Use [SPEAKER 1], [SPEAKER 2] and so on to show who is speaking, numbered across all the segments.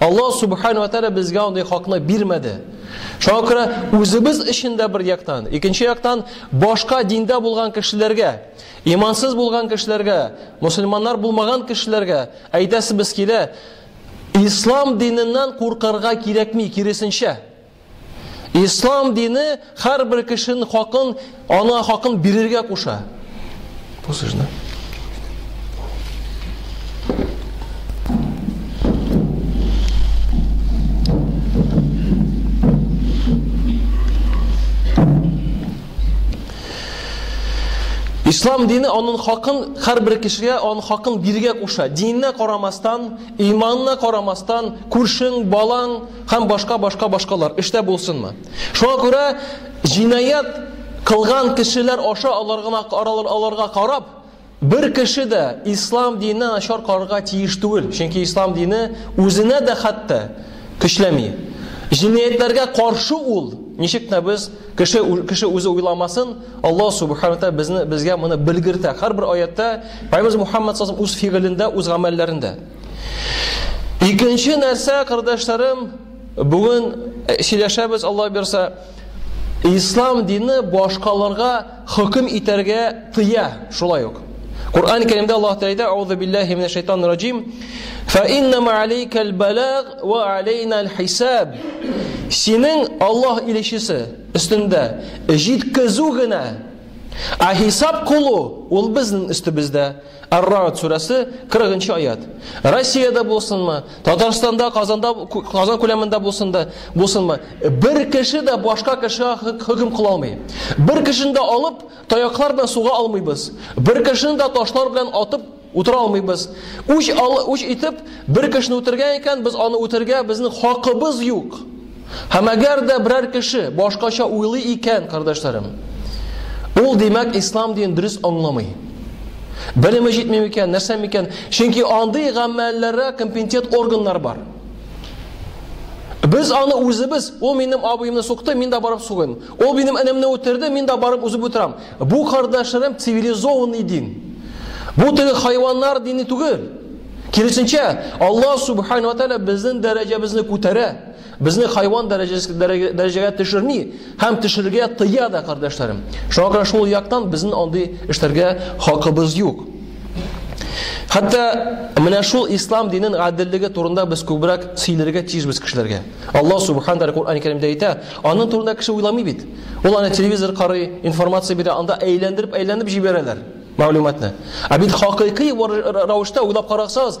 [SPEAKER 1] Аллаһ Субхану ва Тәгалә безгә андый хакны бирмәде. Шуңа күрә үзебез өчен дә бер яктан, икенче яктан башка диндә булган кешеләргә, имансыз булган кешеләргә, мусульманнар булмаган кешеләргә әйтәсебез килә, ислам диненнән куркырга кирәкми, киресенчә. Ислам дине һәрбер кешенең хакын, аңа хакын бирергә куша. Бу сүзне. Ислам дине аның хакын һәрбер кешегә аның хакын бирергә куша. Диненә карамастан, иманына карамастан, күршең, балаң, Һәм башка башка башкалар эштә булсынмы? Шуңа күрә җинаять кылган кешеләр аша аларга аларга карап бер кеше дә ислам диненә начар карарга тиеш түгел, чөнки ислам дине үзенә дә хәтта көчләми. Җинаятләргә каршы ул, ничек тә без кеше кеше үзе уйламасын, Аллаһ субханаһу ва безне безгә моны белгертә. Һәрбер аятта Пайгамбар Мухаммад саллаллаһу үз фигылендә, үз гамәлләрендә. Икенче нәрсә, кардәшләрем, бүген э, сөйләшәбез Алла бирсә, ислам дине башкаларга хөкем итәргә тыя, шулай ук. Кур'ан Кәримдә Аллаһ Тәгалә әйтә: "Аузу биллаһи минәш шайтанир раҗим. Фа инна ма алейкал балаг ва алейнал хисаб." Синең Аллаһ илчесе өстендә җиткезү генә, а хисап кылу ул безнең өстебездә. Ар-Рагд сүрәсе 40 нчы аят. Россиядә булсынмы, Татарстанда, Казанда, Казан күләмендә булсында, булсынмы, бер кеше дә башка кешегә хөкем кыла алмый. Бер кешене дә алып, таяклар белән суга алмыйбыз. Бер кешене дә ташлар белән атып утыра алмыйбыз. Үч, үч итеп, бер кешене үтергән икән, без аны үтергә безнең хакыбыз юк. Һәм әгәр дә берәр кеше башкача уйлый икән, кардәшләрем, ул димәк ислам дин дөрес аңламый. Белеме җитми микән, нәрсә микән? Чөнки андый гамәлләргә компетент органнар бар. Без аны үзебез, ул минем абыемны сукты, мин дә барып сугыйм. Ул минем энемне үтерде, мин дә барып үзеп үтерәм. Бу кардәшләрем цивилизованный дин. Бу теге хайваннар дине түгел. Киресенчә, Аллаһ субхану ва тааля безнең дәрәҗәбезне күтәрә. Безне хайван дәрәҗәгә төшерми һәм төшергә тыя да, кардәшләрем. Шуңа күрә шул яктан безнең андый эшләргә хакыбыз юк. Хәтта менә шул ислам динен гаделлеге турында без күбрәк сөйләргә тиешбез кешеләргә. Аллаһ субхан тәгалә Куръан Кәримдә әйтә, аның турында кеше уйламый бит. Ул аны телевизор карый, информация бирә, анда әйләндереп-әйләндереп җибәрәләр мәгълүматны. Ә бит хакыйкый рәвештә уйлап карасагыз,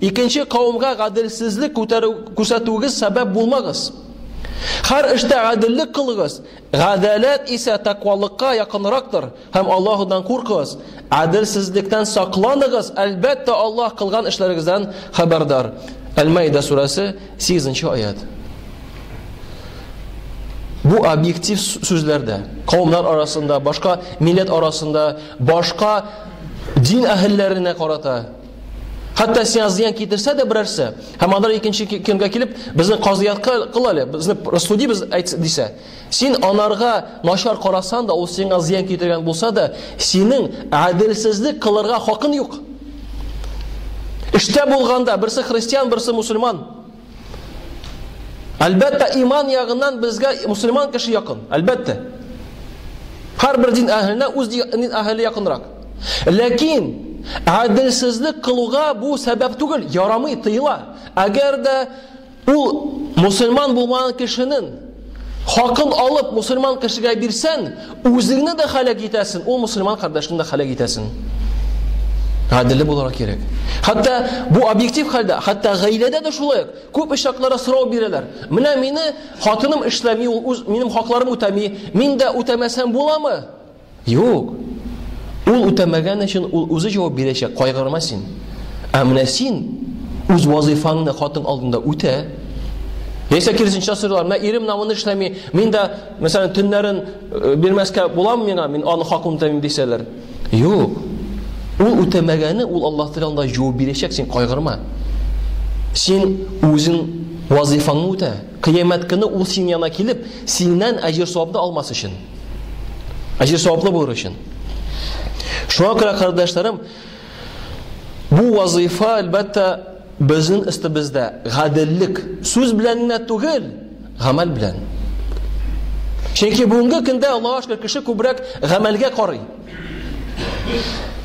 [SPEAKER 1] Икенче кавымга гаделсезлек күтәрү күрсәтүегез сәбәп булмагыз. Хәр эштә гаделлек кылыгыз. Гадаләт исә тәкъвалыкка якынрактыр. Һәм Аллаһудан куркыгыз. Гаделсезлектән сакланыгыз. Әлбәттә, Аллаһ кылган эшләрегездән хәбәрдар. Әл-Маида сүрәсе 8 аят. Бу объектив сүзләрдә, кавымнар арасында, башка милләт арасында, башка дин әһелләренә карата Хәтта сиңа зыян китерсә дә берәрсе, һәм алар икенче көнгә килеп, безне казыятка кыл әле, безне рассуди без әйт дисә, син анарга начар карасан да, ул сиңа зыян китергән булса да, синең әдилсезлек кылырга хакын юк. Эштә булганда берсе христиан, берсе мусульман. Әлбәттә, иман ягыннан безгә мусульман кеше якын. Әлбәттә. Һәрбер дин әһеленә үз дин әһеле якынрак. Ләкин гаделсезлек кылуга бу сәбәп түгел, ярамый, тыела. Әгәр дә ул мусульман булмаган кешенең Хакын алып мусульман кешегә бирсән, үзеңне дә халәк итәсен, ул мусульман кардәшне дә халәк итәсен. Гаделле буларак кирәк. Хәтта бу объектив хәлдә, хәтта гаиләдә дә шулай. Күп очакларда сорау бирәләр. Менә мине хатыным эшләми, ул үз минем хакларым үтәми, мин дә үтәмәсәм буламы? Юк! Ул үтәмәгән өчен ул үзе җавап бирәчәк, кайгырма син. Ә менә син үз вазыйфаңны хатын алдында үтә. Яисә киресенчә сорыйлар, менә ирем намын эшләми, мин дә, мәсәлән, төннәрен э, бирмәскә буламы миңа, мин аны хакын үтәмим дисәләр. Юк. Ул үтәмәгәне ул Аллаһ Тәгалә алдында җавап бирәчәк, син кайгырма. Син үзең вазыйфаңны үтә. Кыямәт көне ул син янына килеп, синнән әҗер-савапны алмас өчен. Әҗер саваплы булыр өчен. Шуңа күрә, кардәшләрем, бу вазыйфа, әлбәттә, безнең өстебездә гаделлек сүз белән генә түгел, гамәл белән. Чөнки бүгенге көндә Аллаһ шөкер кеше күбрәк гамәлгә карый.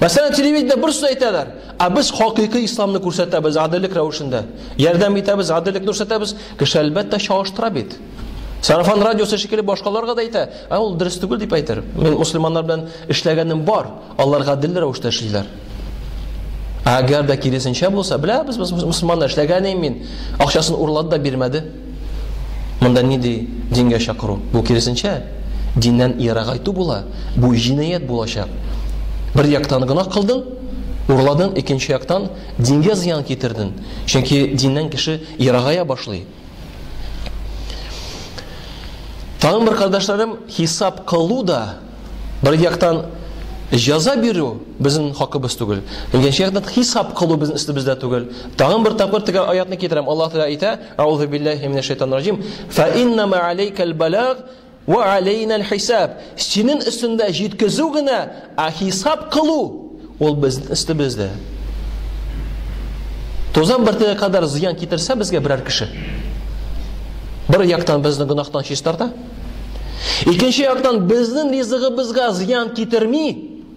[SPEAKER 1] Мәсәлән, телевидение бер сүз әйтәләр, ә без хакыйкый исламны күрсәтәбез гаделлек рәвешендә. Ярдәм итәбез, гаделлекне күрсәтәбез, кеше әлбәттә чагыштыра бит. Сарафан радиосы шикелле башкаларга да әйтә, ә ул дөрес түгел дип әйтер. Мин мусульманнар белән эшләгәнем бар, алар гадел рәвештә эшлиләр. Әгәр дә киресенчә булса, белә без мусульманнар эшләгән идем мин, акчасын урлады да бирмәде. Монда ни ди дингә чакыру? Бу киресенчә диннән ерагайту була. Бу җинаять булачак. Бер яктан гына кылдың, урладың, икенче яктан дингә зыян китердең. Чөнки диннән кеше ерагая башлый. Тагын бер кардәшләрем, хисап кылу да бер яктан җаза бирү безнең хакыбыз түгел. Икенче яктан хисап кылу безнең өстебездә түгел. Тагын бер тапкыр төгәл аятны китерәм. Аллаһ Тәгалә әйтә: "Аузу биллаһи минәш шайтанир раҗим. Фа инна ма алейкал балаг Вә алейнәл хисаб. Синең өстендә җиткезү генә, ә хисап кылу ул безнең өстебездә. Тозан бөртеге кадәр зыян китерсә безгә берәр кеше. Бер яктан безне гөнаһтан чистарта. Икенче яктан безнең ризыгыбызга зыян китерми.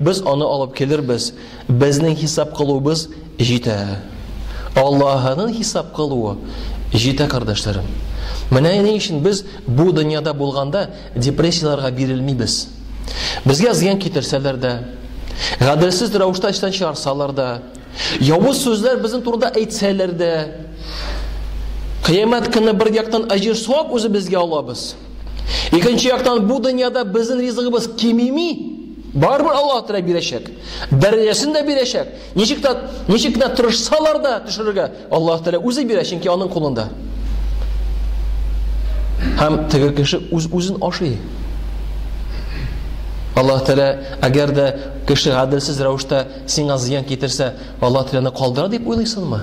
[SPEAKER 1] Без аны алып килербез, безнең хисап кылуыбыз җитә. Аллаһының хисап кылуы җитә, кардәшләрем. Менә ни өчен без бу дөньяда булганда депрессияләргә бирелмибез. Безгә зыян китерсәләр дә, гаделсез рәвештә эштән чыгарсалар да, явыз сүзләр безнең турыда әйтсәләр дә, Кыямәт көне бер яктан әҗер савап үзебезгә алабыз. Икенче яктан бу дөньяда безнең ризыгыбыз кимеми. Барыбер Аллаһ Тәгалә бирәчәк. Дәрәҗәсен дә бирәчәк. Ничек тә ничек кенә тырышсалар да төшерергә Аллаһ Тәгалә үзе бирә, чөнки аның кулында. Һәм теге кеше үз үзен ашый. Аллаһ Тәгалә әгәр дә кеше гаделсез рәвештә сиңа зыян китерсә, Аллаһ Тәгаләне калдыра дип уйлыйсыңмы?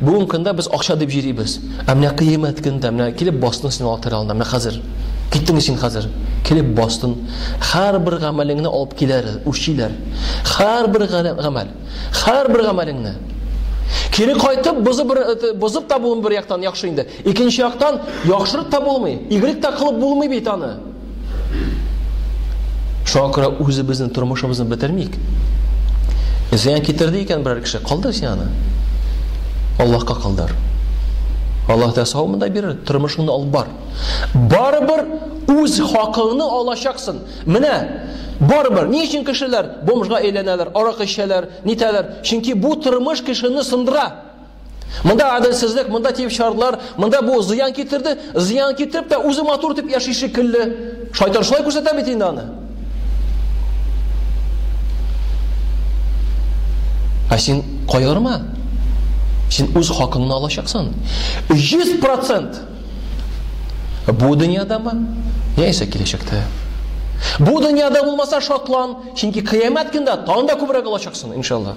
[SPEAKER 1] Бүген көндә без акча дип җирибез. Ә менә кыямәт көндә менә килеп бастың син алатырь алдына. Менә хәзер. Киттеңме син хәзер? Килеп бастың. Һәрбер гамәлеңне алып киләр, үчиләр. Һәрбер гамәл. Һәрбер гамәлеңне. Кире кайтып бозып бер э, бозып та булмый бер яктан яхшы инде. Икенче яктан яхшырып та булмый. Игрек та кылып булмый бит аны. Шуңа күрә үзебезнең тормышыбызны бетермик. Зыян китерде икән берәр кеше, калдыр син аны. Аллаһка калдыр. Аллаһ да сау монда бирер, тормышыңны алып бар. Барыбер үз хакыңны алачаксың. Менә барыбер ни өчен кешеләр бомжга әйләнәләр, арак эчәләр, нитәләр? Чөнки бу тормыш кешене сындыра. Монда адылсызлык, монда тип шартлар, монда бу зыян китерде, зыян китереп тә үзе матур дип яши шикелле. Шайтан шулай күрсәтә бит инде аны. Ә син кайгырма. Син үз хакыңны алачаксың. 100% бу дөньядамы? Яисә киләчәктә? Бу дөньяда булмаса шатлан, чөнки кыямәт көндә тагын да күбрәк алачаксың, иншалла.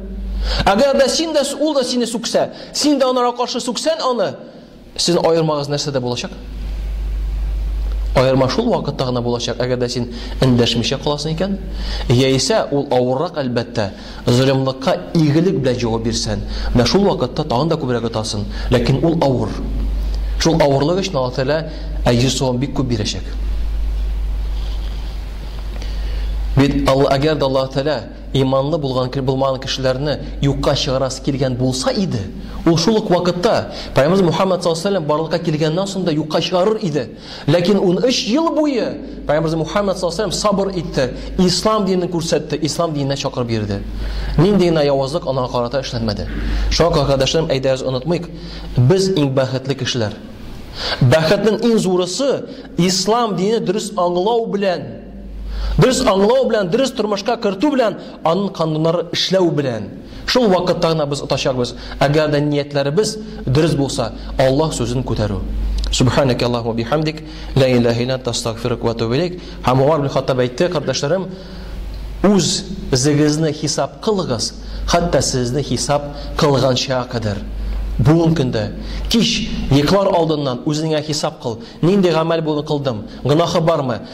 [SPEAKER 1] Әгәр дә син дә ул да сине сүксә, син дә анара каршы сүксән аны, сезнең аермагыз нәрсәдә булачак? Аерма шул вакытта гына булачак, әгәр дә син эндәшмичә каласың икән, яисә ул авыррак әлбәттә, золымлыкка игелек белән җавап бирсән, менә шул вакытта тагын да күбрәк отасың, ләкин ул авыр. Шул авырлык өчен Аллаһ Тәгалә әҗер савап бик күп бирәчәк. Бит Аллаһ әгәр дә Аллаһ Тәгалә Иманлы булган кел булмаган кешеләрне юкка чыгарасы килгән булса иде, ул шул ук вакытта Пәйгамбәрбез Мухаммәд саллаллаһу алейһи ва сәлләм барлыкка килгәннән соң да юкка чыгарыр иде. Ләкин унөч ел буе Пәйгамбәрбез Мухаммәд саллаллаһу алейһи ва сәлләм сабыр итте, Ислам динен күрсәтте, Ислам диненә чакырып йөрде. Нинди генә явызлык аңа карата эшләнмәде. Шуңа күрә, кардәшләрем, әйдәгез онытмыйк, без иң бәхетле кешеләр. Бәхетнең иң зурысы, Ислам динен дөрес аңлау белән Дөрес аңлау белән, дөрес тормышка кертү белән, аның кануннары эшләү белән. Шул вакытта гына без отачакбыз. Әгәр дә ниятләребез дөрес булса, Аллаһ сүзен күтәрү. Субханаке Аллаһу бихамдик, ла илаһа илля анта астагфирук ва атубу илейк. Һәм Умар ибн Хаттаб әйтте, кардәшләрем, үз зегезне хисап кылыгыз, хәтта сезне хисап кылганча кадәр. Бүгін көндә кич йоклар алдыннан үзеңә хисап кыл. Нинди гамәл бүген кылдым? Гынахы бармы?